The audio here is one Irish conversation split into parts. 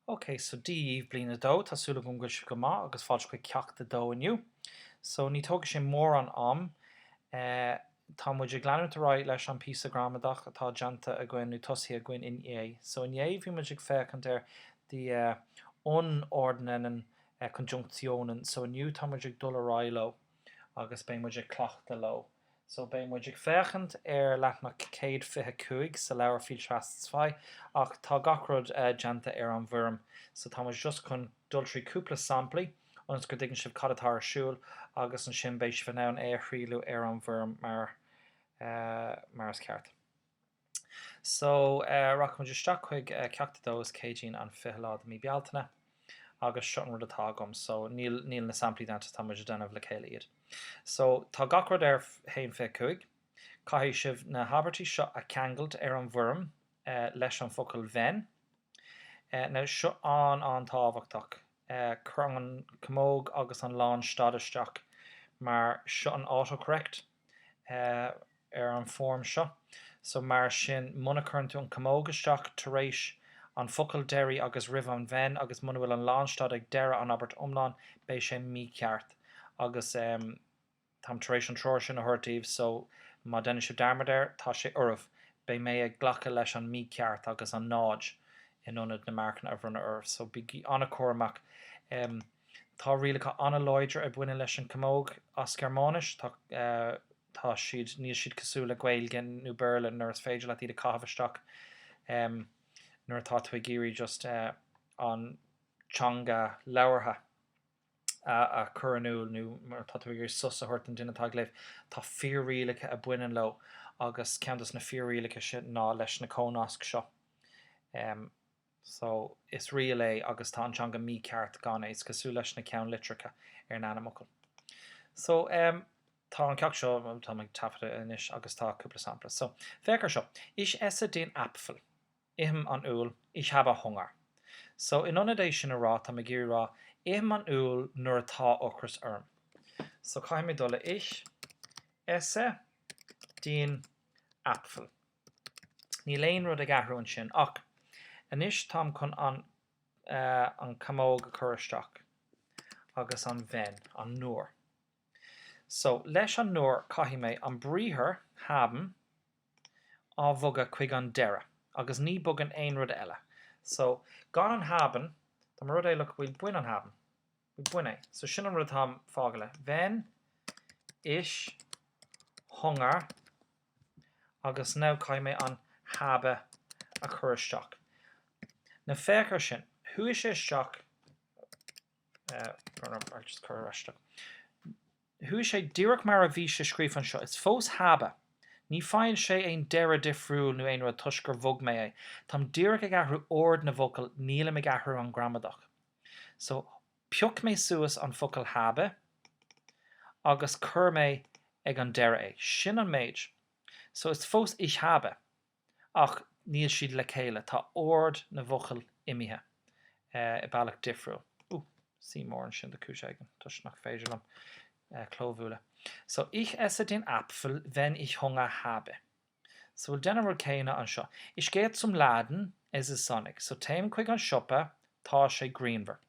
Ok, so Dia daoibh bliain 2, tá súil agam go bhfuil sibh go maith agus fáilte chuig Ceacht 2 inniu. So ní tógfaidh sé mórán am eh tá muid ag leanúint ar aghaidh leis an píosa gramadach atá déanta againn nó tosaithe againn inné. So inné bhí muid ag féachaint ar die eh, unterordnenden eh Konjunktionen so inniu tá muid ag dul ar aghaidh leo. agus beidh muid ag cleachtadh leo. So beidh muid ag féachaint ar leathanach céad fiche cúig sa leabhar Viel Spaß zwei ach tá gach rud déanta ar an bhfoirm so tá muid just chun dul trí cúpla samplaí ionas go dtuigeann sibh cad atá ar siúl agus ansin beidh sibh in ann é a thrialladh ar an bhfoirm mar is ceart. So, rachaimid isteach chuig Ceacht 2, is Céadaoin an 20 lá de mí Bealtaine agus seo an rud atá agam. So, níl, níl na samplaí déanta, tá muid a' déanamh le chéile iad. So, tá gach rud ar haon fiche cúig. Caithfidh sibh na habairtí seo a cheangailt ar an bhfoirm leis an focal wenn. Now, seo an, an-tábhachtach, cuir an camóg agus an lánstad isteach mar seo an autocorrect. ar an bhfoirm seo. So mar sin, muna cuireann tú an camóg isteach tar éis an focal deiridh agus roimh an wenn agus muna bhfuil an lánstad ag deireadh an abairt iomlán, beidh sé mícheart. Agus táim tar éis an treoir sin a thabhairt daoibh so má deineann sibh dearmad air, tá sé oraibh. Beidh mé ag glacadh leis an mícheart agus an náid in ionad na marcanna a bhronnadh oraibh so bígí an-chúramach. Tá rialacha an-láidir a bhaineann leis an camóg as Gearmáinis. Tá tá siad níl siad cosúil le Gaeilge nó Béarla nuair is féidir leat iad a chaitheamh isteach nuair atá tú ag iarraidh just an teanga labhartha a chur in iúl nó mar atá tú ag iarraidh sos a thabhairt don duine atá ag léamh. Tá fíor-rialacha a bhaineann leo agus ceann dos na fíor-rialacha sin ná leis na cónasc seo. so, is riail é agus tá an teanga mícheart gan é. Is cosúil leis na ceannlitreacha ar an ainmfhocal. So, em, tá an ceacht seo, em, táim ag taifeadadh anois agus tá cúpla sampla. So, féach ar seo, Ich esse den Apfel. Ithim an úll. Ich habe Hunger. So, in ionad é sin a rá, táim ag iarraidh rá, Ithim an úll nuair atá ocras orm. So, caithfidh mé dul le Ich esse den Apfel. Níl aon rud ag athrú ansin ach anois táim chun an camóg a chur isteach agus an wenn, an nuair. So, leis an nuair caithfidh mé an briathar haben a bhogadh chuig an deireadh agus ní bogann aon rud eile. So, gan an haben, dá mba rud é look, well bain an haben? Bain é. So sin an rud atáim fágtha le. Wenn ich Hunger agus now caithfidh mé an Habe a chur isteach. Now féach ar sin. Chuaigh sé isteach eh, I'll just cuir ar ais dó. Chuaigh sé díreach mar a bhí sé scríofa anseo. Is fós Habe. Ní faigheann sé aon deireadh difriúil nó aon rud toisc gur bhog mé é. Táim díreach ag athrú ord na bhfocal, nílim ag athrú an gramadach. So, pioc mé suas an focal habe agus chuir mé ag an deireadh é. Sin an méid. So, is fós ich habe ach níl siad le chéile, tá ord na bhfocal imithe i bealach difriúil. Ó, C mór ansin de chúis éigin toisc nach féidir liom clóbhualadh. So, Ich esse den Apfel, wenn ich Hunger habe. So déan an rud céanna anseo. Ich gehe zum Laden, es ist sonnig. So téim chuig an siopa, tá sé grianmhar.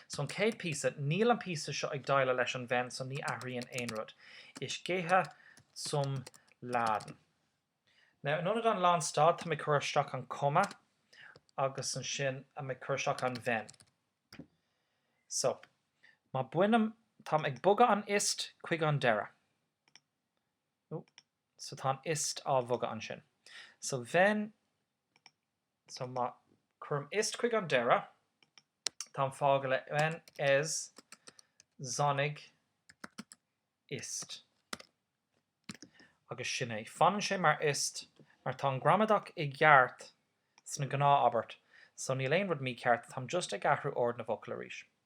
So an chéad píosa, níl an píosa seo ag déileáil leis an wenn so ní athraíonn aon rud. Ich gehe zum Laden. Now in ionad an lán stad, táim ag cur isteach an comma agus ansin táim ag cur isteach an wenn. So má bainim, táim ag bogadh an ist chuig an deireadh. Ó, so tá an ist á bhogadh ansin. So wenn, so má cuirim ist chuig an deireadh, táim fágtha le wenn es sonnig ist. Agus sin é. Fanann sé mar ist mar tá an gramadach i gceart sa ghnáthabairt, so níl aon rud mícheart, táim just ag athrú ord na bhfocal arís.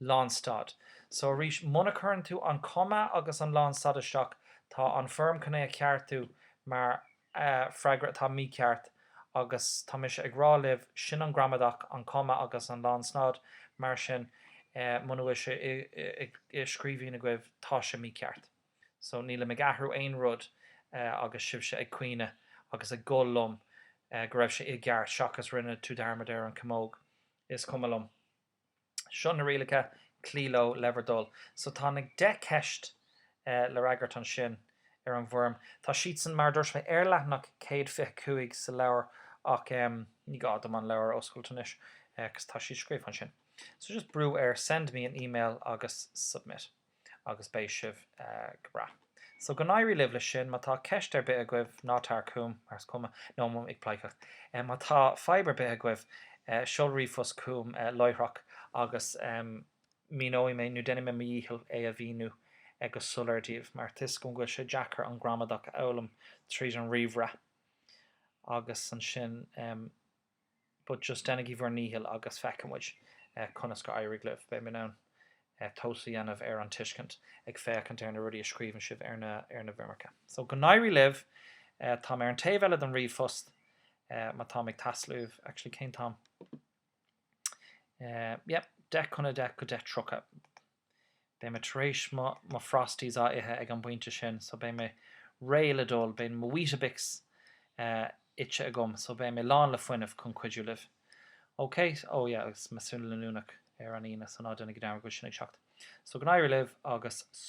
lánstad. So arís, muna cuireann tú an comma agus an lánstad isteach, tá an foirm chun é a cheartú mar freagra atá mícheart agus tá mise ag rá libh, sin an gramadach, an comma agus an lánstad, mar sin muna bhfuil sé i scríbhinn agaibh, tá sé mícheart. So nílim ag athrú aon rud agus sibhse ag caoineadh agus ag gol liom go raibh sé i gceart seachas rinne tú dearmad ar an camóg. Is cuma liom. seo na rialacha cloí leo le bhur dtoil. So tá na deich gceist le freagairt ansin ar an bhfoirm. Tá siadsan, mar a dúirt mé, ar leathanach 125 sa leabhar ach ní gá dom an leabhar a oscailt anois cos tá siad scríofa ansin. So just brú ar Send me an email agus Submit. agus beidh sibh go breá. So go n-éirí libh leis sin. Má tá ceist ar bith agaibh, ná tar chugam, mar is cuma liom, nó, táim ag pleidhcíocht. Má tá fadhb ar bith agaibh, seol ríomhphost chugam láithreach agus míneoidh mé nó déanfaidh mé mo dhícheall é a mhíniú go soiléir daoibh, mar tuigim go bhfuil sé deacair an gramadach a fhoghlaim tríd an ríomhaire agus ansin. but just déanaigí bhur ndícheall agus feicfidh muid conas gur éirigh libh. Beidh mé in ann tomhas a dhéanamh ar an tuiscint ag féachaint ar na rudaí a scríobhann sibh ar na ar na bhfoirmeacha. So go n-éirí libh. Táim ar an taobh eile den ríomhphost má táim ag teastáil uaibh, actually cén t-am é? Yep, deich chun a deich go deich tríocha. Beidh mé tar éis mo mo Frosties a ithe ag an bpointe sin so beidh mé réidh le dul, beidh mo Weetabix ite agam so beidh mé lán le fuinneamh chun cuidiú libh. Ok? Ó yeah agus measúnú leanúnach ar an Aoine so ná déanaigí dearmad go bhfuil sin ag teacht. So go n-éirí libh agus.